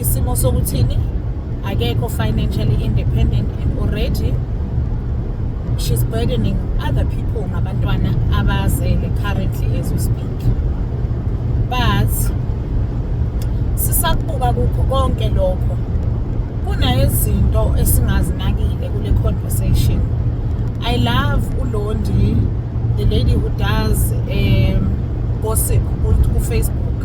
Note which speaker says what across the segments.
Speaker 1: isimo sokuthini akekho financially independent and already she's burdening other people ngabantwana abazele currently as we speak but sisakubuka kukho konke lokho kunezinto esingazinakile kule conversation i love ulondi the lady who does um, gossip kufacebook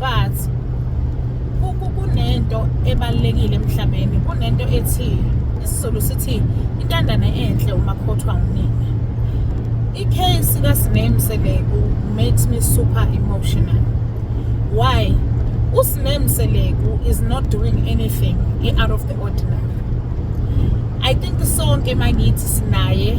Speaker 1: but kunento ebalulekile emhlabeni kunento ethi isizulu sithi intandane enhle umakhothwa unina icase kasiname seleku makes me super emotional why usiname seleku is not doing anything out of the ordinary i think sonke makithi sinaye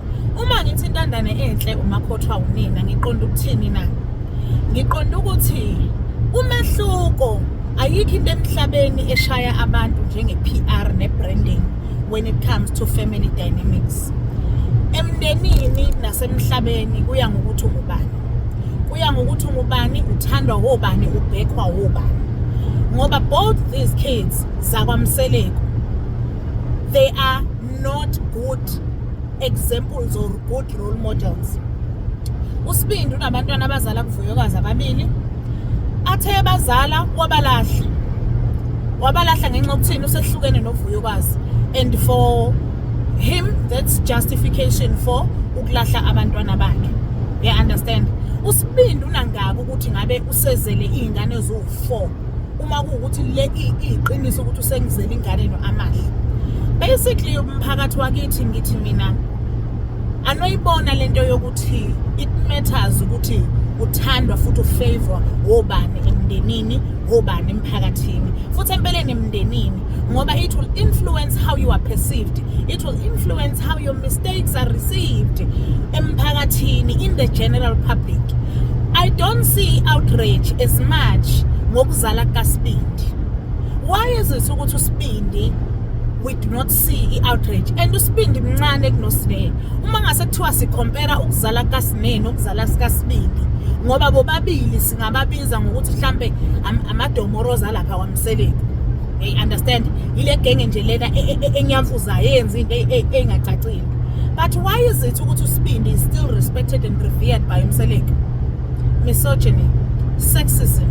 Speaker 1: uma ngithi intandane enhle umakhothwa unina ngiqonda ukuthini na ngiqonda ukuthi umehluko ayikho into emhlabeni eshaya abantu njenge-PR ne-branding when it comes to family dynamics emndenini nasemhlabeni kuya ngokuthi ungubani kuya ngokuthi ungubani uthandwa wobani ubhekhwa wobani ngoba both these kids zakwamseleku they are not good examples or good role models usibindi unabantwana abazala kuvuyokazi ababili athe bazala wabalahla wabalahla ngenxa yokuthini usehlukene novuyokazi and for him that's justification for ukulahla abantwana bakhe you understand usibindi unangaka ukuthi ngabe usezele iy'ngane eziwu-four uma kuwukuthi le iyiqiniso ukuthi usengizele ingane no amahle basically umphakathi wakithi ngithi mina anoyibona lento yokuthi it matters ukuthi uthandwa futhi ufavor wobani emndenini wobani emphakathini futhi empeleni emndenini ngoba it will influence how you are perceived it will influence how your mistakes are received emphakathini in the general public i don't see outrage as much ngokuzala kasibindi why is it ukuthi usibindi we do not see i-outrage and usibindi mncane kunosine uma ngase kuthiwa sikhompera ukuzala kasine nokuzala sikasibindi ngoba bobabili singababiza ngokuthi mhlampe amadomoroza lapha seleni hey understand ile genge nje lena e, e, e, enyamfuzayo eyenza into engacacile but why is it ukuthi usibindi is still respected and revered by umseleki misogyny sexism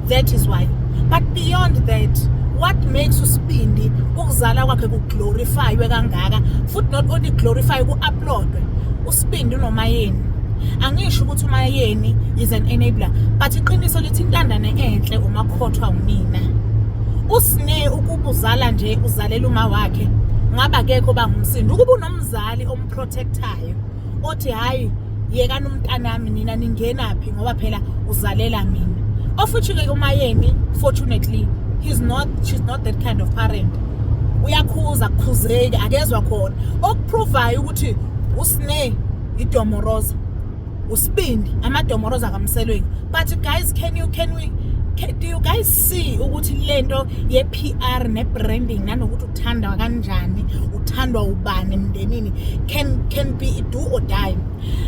Speaker 1: that is why but beyond that what makes usibindi ukuzala kwakhe kuglorifywe kangaka futhi not only glorify ku-uploadwe Sibindi unomayeni. Angisho ukuthi umayeni is an enabler but iqiniso lithi intandane enhle umakhothwa unina. Usine ukubuzala nje uzalela uma wakhe ngaba kekho bangumsindo ukuba unomzali omprotectayo othi hayi yekani umntanami nina ningenaphi ngoba phela uzalela mina of which ke umayeni fortunately he's not she's not that kind of parent uyakhuza kukhuzeki akezwa khona provayo ukuthi usne idomoroza usibindi amadomoroza kamselweni but guys can you can we can, do you guys see ukuthi lento ye PR ne branding nanokuthi uthandwa kanjani uthandwa ubani emndenini can can be do or die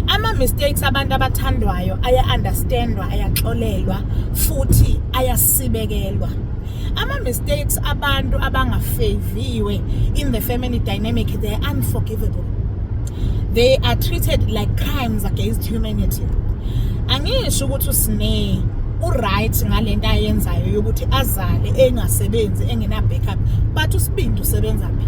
Speaker 1: ama mistakes abantu abathandwayo aya understandwa ayaxolelwa futhi ayasibekelwa ama mistakes abantu abangafaviwe in the family dynamic they are unforgivable they are treated like crimes against humanity angisho ukuthi usine uright ngalento ayenzayo yokuthi azale engasebenzi engena backup but usibindi usebenza phi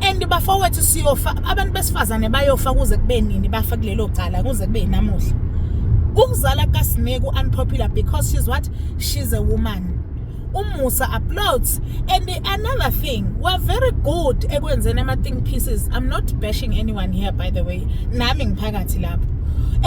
Speaker 1: and bafowethu siyofa abantu besifazane bayofa kuze kube nini bafa kulelo cala kuze kube namuhla ukuzala kaSineku unpopular because she's what she's a woman umusa uploads and another thing we're very good ekwenzeni ama think pieces i'm not bashing anyone here by the way nami ngiphakathi lapho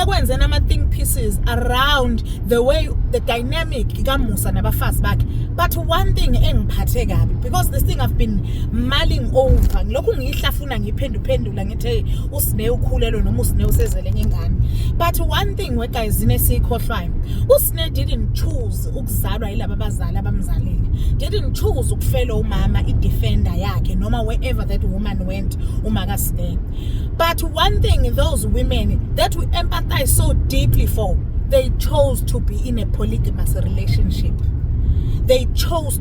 Speaker 1: ekwenzeni ama think pieces around the way the dynamic kamusa nabafazi bakhe but one thing engiphathe kabi because this thing I've been mulling over ngilokhu ngiyihlafuna ngiphenduphendula ngithi hey usine ukhulelwe noma usine usezele ngengane but one thing we guys ine sikhohlwayo usine didn't choose ukuzalwa yilaba bazali abamzalile didn't choose ukufela umama idefender yakhe noma wherever that woman went umaka sine but one thing those women that we empathize so deeply for they chose to be in a polygamous relationship they chose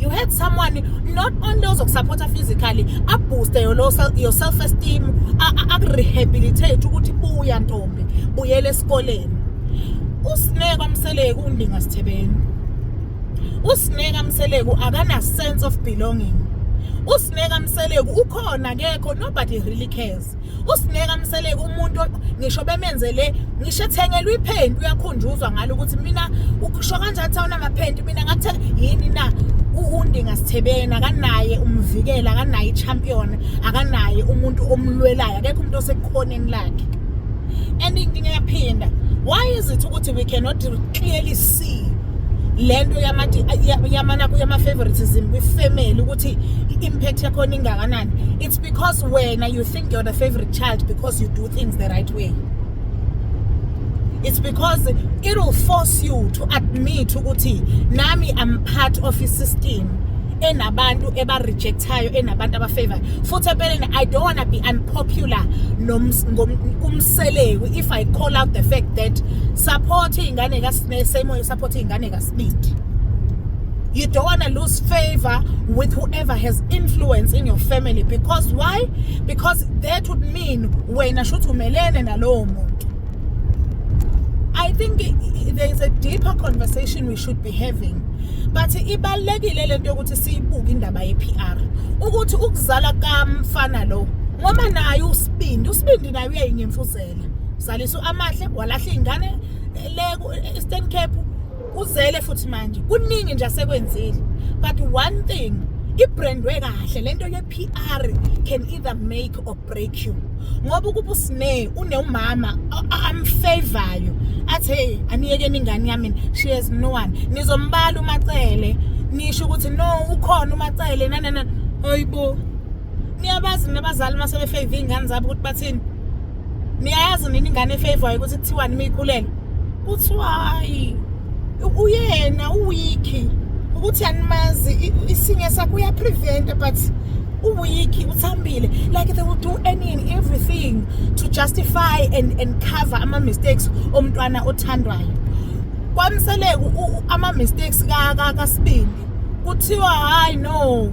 Speaker 1: you had someone not only ozokusupporta physically abooste your self esteem akurehabilitate ukuthi buya ntombi buyela esikoleni usineka mseleku undinga sithebeni usineka mseleku akana sense of belonging usineka mseleku ukhona kekho nobody really cares usineka mseleke umuntu ngisho bemenzele ngisho ethengelwa iphenti uyakhunjuzwa ngalo ukuthi mina ukusho kanjani ukuthi awunamaphenti mina ngathe yini na undinga sithebeni akanaye umvikela akanaye i-champion akanaye umuntu omlwelayo akekho umuntu osekukhoneni lakhe and inkinga yaphinda why is it ukuthi we cannot clearly see lento yamati yamana kuyama favoritism kwi family ukuthi impact yakhona ingakanani It's because wena you think you're the favorite child because you do things the right way. It's because it will force you to admit ukuthi nami I'm part of a system enabantu ebarejectayo enabantu abafavorayo futhi empeleni i don't want to be unpopular kumseleku if i call out the fact that support iy'ngane kasimele same way support iy'ngane kasibindi you don't want to lose favor with whoever has influence in your family because why because that would mean wena shuthi umelene nalowo muntu i think there is a deeper conversation we should be having but ibalekile lento yokuthi siyibuke indaba ye PR ukuthi ukuzala kamfana lo ngoba naye usibindi usibindi naye uyayinyemfuzela uzalisa amahle walahla ingane le Eastern Cape kuzele futhi manje kuningi nje asekwenzile but one thing ibrandwe kahle lento ye PR can either make or break you ngoba ukuba usine uneumama amfavorayo athi hey aniyekeni ingane yami she has no one nizombala umacele nisho ukuthi no ukhona umacele nanana hayibo niyabazi nabazali uma sebefave iy'ngane zabo ukuthi bathini niyayazi nini ingane efavorayo ukuthi kuthiwani uma ikhulelwe kuthiwa hayi uyena uwiki ukuthi animazi isinye sakho uyapreventa but uwiki uthambile like they will do any and everything to justify and, and cover ama-mistakes omntwana othandwayo kwamseleka ama-mistakes kasibindi kuthiwa hayi no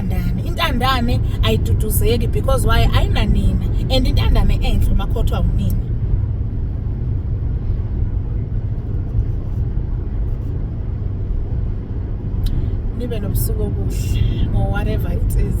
Speaker 1: intandane intandane ayiduduzeki because why ayinanina and intandane enhle umakhothwa unina nibe nobusuku obuhle or whatever it is